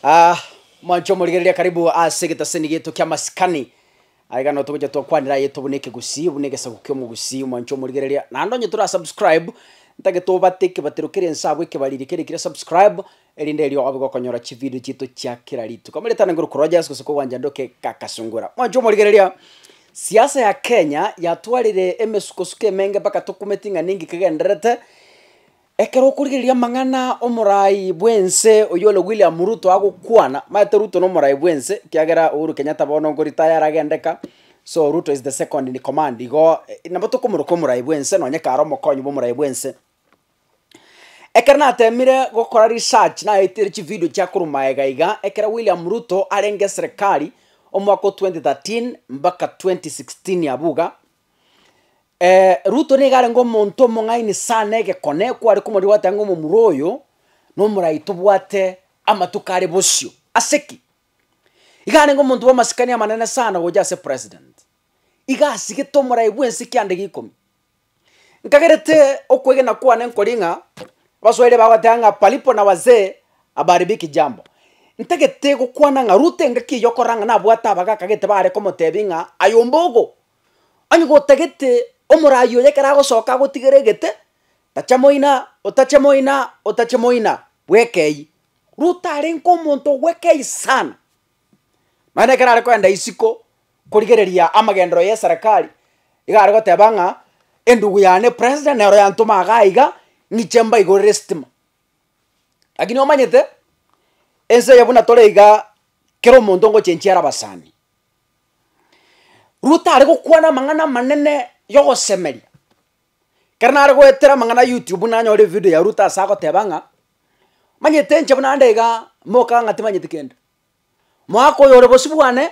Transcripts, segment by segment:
Ah, mwancho omorigereria karibu ase egetaseni gieto kia masikani. Aye gano togocha twakwanera ayeto buna ekegusii, buna egesaku kia omogusii, mwancho omorigereria. Naende onye tora subscribe, ntake tobate ekebatero kere ense abwo ekebariri kere kire subscribe, erinde erio obe gokonyora chivideo chieto chia kera rituko. Ameretane ngorokwa Rogers gose kogwancha ndoke Kakasungura. Mwancho omorigereria, siasa ya Kenya yatwarire emesukosuko emenge mpaka tokumeti ng'a ninki kegendererete, Ekero okorigereria amang'ana omorai bw'ense oyore William Ruto agokwana, omanyete Ruto nomorai bw'ense, ekiagera Uhuru Kenyatta bono nko retire aragendeka, so Ruto is the second in command igo, nabo tokomoroka omorai bw'ense nonye kare omokonyi bw'omorai bw'ense. Ekero natemire gokora research naetire chividio chia korwa magega iga, ekero William Ruto arenge eserekari, omwaka o twenty thirteen mbaka twenty sixteen abwo iga, Ruto nigo arenge omonto omong'aini sana egekone, kware komorigia goteba ng'a omomura oyo, nomorai tobwate amatuko are bosio, ase ki? Iga arenge omonto bw'amasikani amanene sana gocha ase president, iga asigete omorai bwense kianda gikomi. Nkagerete okwegena kwane nkoria ng'a, abaswahili bagoteba ng'a palipo na wazee habaharibiki jambo, ntagete gokwana ng'a ruto engaki eyio okorora ng'a nabwate abagaaka gete bare komotebia ng'a aye ombogo, Onye gotagete omoraai oyo ekero agosoka agotigere egete, tacha moina, otache moina, otache moina, bweka eywo. Ruto arenge omonto obweka eywo sana, nonya ekero are kogenda isiko korigereria amagenderero y'eserekari, igo are goteba ng'a endugu yane president nero yantoma iga iga, ng'iche mbaigorere estima. Lakini omanyete, ense eye buna tore igaa, kera omonto ngochenchia are abasani. Ruto are gokwana amang'ana amanene yogosemeria, ekero nare goetera amang'ana a youtube nanyore evidio ya ruto ase agoteba ng'a, manyete inche buna ande igaa moka ng'a timanyeti kende, moaka oyo ore bosio bwane,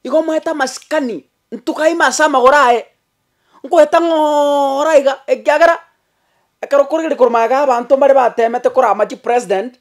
igo moete amasikani ntuga ime ase amagoro aye, nkoete ng'oooora iga ekiagera ekero korigereria korwa magega ya abanto mbare batemete korama chipresident.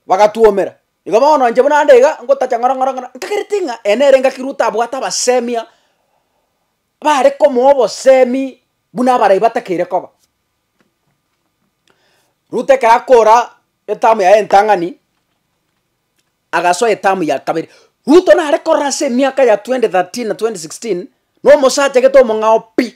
Bagatwomera. Igo bono inche buna nde iga ngotacha ng'oro ng'oro ng'oro, nkagereti ng'a ene ere engaki Ruto abwate abasemia bare komoa obosemi buna abarai batakeire koba. Ruto ekero akora etamu yaye entang'ani, agasoa etamu ya kabere. Ruto nare korora ase emiaka ya twenty thirteen na twenty sixteen, na omosacha gete omong'ao pi,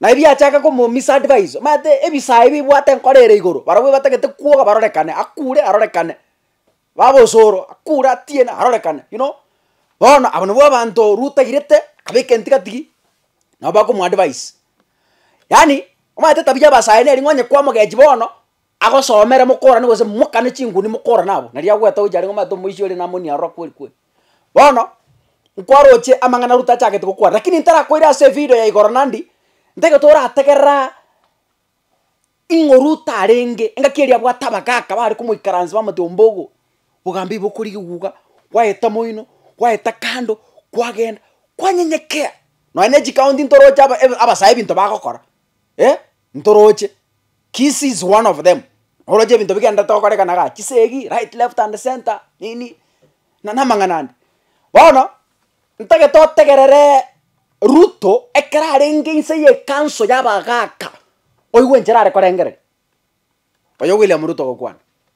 Naye biachaka komo miss advise omanyete ebisayi bibwate enkoro ere igoro barobwo batagete kwoga barorekane akure arorekane baba osoro akure atiene arorekane you know bono abo nabwo abanto ruto airete akabeka entiga tigi nabo bakomo advise yaani omanyete etabia ya abasayi neri ng'a onye kwamogechi bono agosomere mokorane gose mokane chinguni mokorane abwo nari agoeta gochia are ng'a omanyete omoisia oria namoni aroro akweri kweri. Bono, nkwaroche amang'ana Ruto achagete gokwana, rakini ntarakoire ase evideo ya igoro Nandi, ntaigote orategereraa ing'o Ruto arenge, engaki eria abwate abagaka bare komoikaransa bamotebia ombogo, bogambe ibo okori geguga, kwaeta moino, kwaeta kando, kwagenda, kwanyenyekea, nonya ne chikaonti ntoroche aba ebe abasae ebinto bagokora, eh, ntoroche. Kisi is one of them, oroche ebinto bigenderete gokorekana igaa, chisegi, right, left and centre, nini, na namang'ana ande. Bono, ntagete otegereree ruto ekero arenge inse ye ekanso ya abagaaka, oigwe enchera are korengereria, oyo William Ruto ogokwana.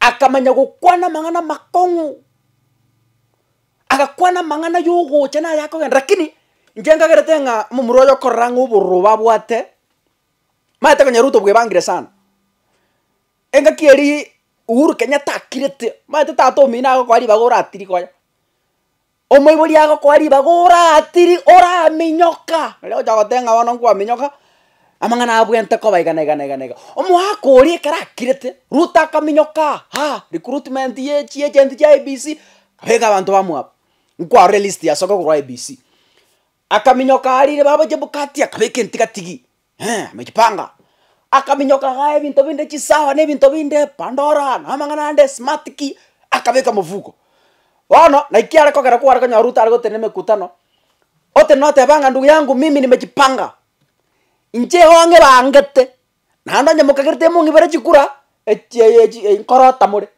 akamanya gokwana amang'ana amakong'u, agakwana amang'ana yogocha na ayakogenda rakini inche nkagerete ng'a omomura oyo okorora ng'a obororo obo abwate, maete konya ruto bwebangire sana, engaki eria Uhuru Kenyatta akirete, maete tata omino agokoa ribaga oratirie konya. Omoibori agokoa ribaga oratiri, oraminyoka. Nari ogocha goteba ng'a bono nkwaminyoka, amang'ana abwente koba igana igana igana iga. Omoaka oria ekero akirete, Ruto akaminyokaa haa, recruitment ye chi agent chia IEBC, abeka abanto bamwabo, nkwarora elist ya soke korwa IEBC. Akaminyoka arire baba Chebukati akabeka entigatigi, Eeh, amechipanga, akaminyoka gaa ebinto binde chisawa na ebinto binde, pandora, na amang'ana ande smart ki, akabeka mofuko. Bono naki kiare kogera kware konyora Ruto are gotenena emekutano, otenena oteba ng'a ndugu yangu mimi nimejipanga, inche igo ng'ebangete, naende onye mokagerete mong'ibere chikura, echi eye echi nkorota more,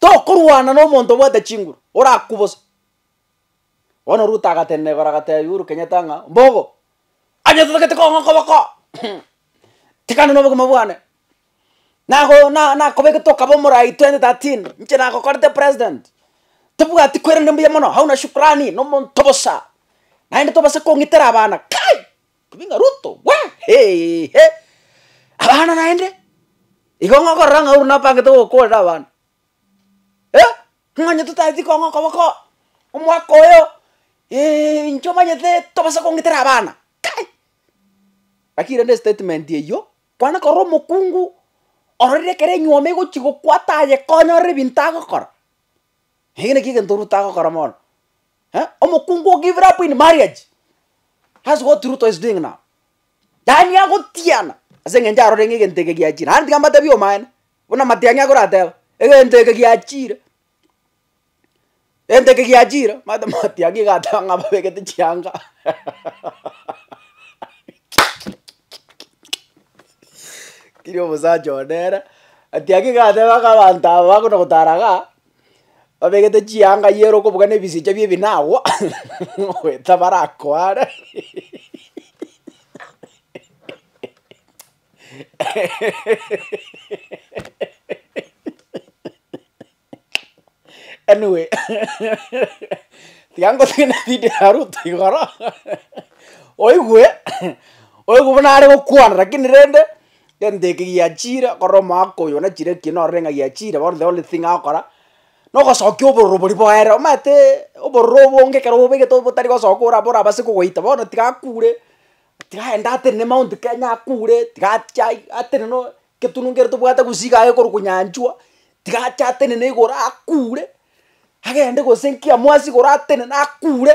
Tokorwana nomonto obwate chinguru orakubose. Bono Ruto agatenena igoro agatebia Uhuru Kenyatta ng'a mbogo onye totagete kong'aa okoboko tikana nobogima bwane. Nago na nakobeke tokaba omorai twenty thirteen inche nagokorete president. Tobwati koirana mbuya mono hauna shukrani nomonto bosa. Naende tobasa kong'itera abana kai! Obi ng'a Ruto we! Heehe! Abana naende, igo ng'a okorora ng'a oru napangete gokoorera abana. Eh! Ng'onye totaeti kong'a okoboko omwaka oyo eeh inche omanyete tobasa kong'itera abana kai! Lakini rende estatement eywo, kwana korora omokungu ororire ekero enywomo egochi gokwa tayekonyorera ebinto agokora, ege naki egento Ruto agokora mono. eh, omokungu o give it up in marriage that's what ruto is doing now yaani agotiana ase eng'encho arore ng'a egento eke giachire naende tiga mbatebi omaene buna matiang'i akorateba egento eke giachire egento eke giachire omanyete matiang'i iga ateba ng'a ababegete chianga kiria omosacha one ere, matiang'i iga ateba ng'a abanto aba bakona gotara igaa. Babegete chianga yiere okobuga na ebisicha bie ebinago goeta barakware anyway tiga ngotebie na video ya Ruto igoro oigwe oigwe buna are gokwana lakini rende Egento eke giachire korora omogaka oyo na chire ki norore ng'a giachire bono the only thing agokora, nogosokia obororo boria boere omanyete obororo obonge ekero obobegete botari gosoka ora borabase kogoita bono tiga akure, tiga aende atenene mount kenya akure, tiga achi ai atenene oo eketunwa kere tobwate gose iga aye korokwa nyanchwa, tiga ache atenene igoro akure, agende gose nkiamoasi igoro atenene akure.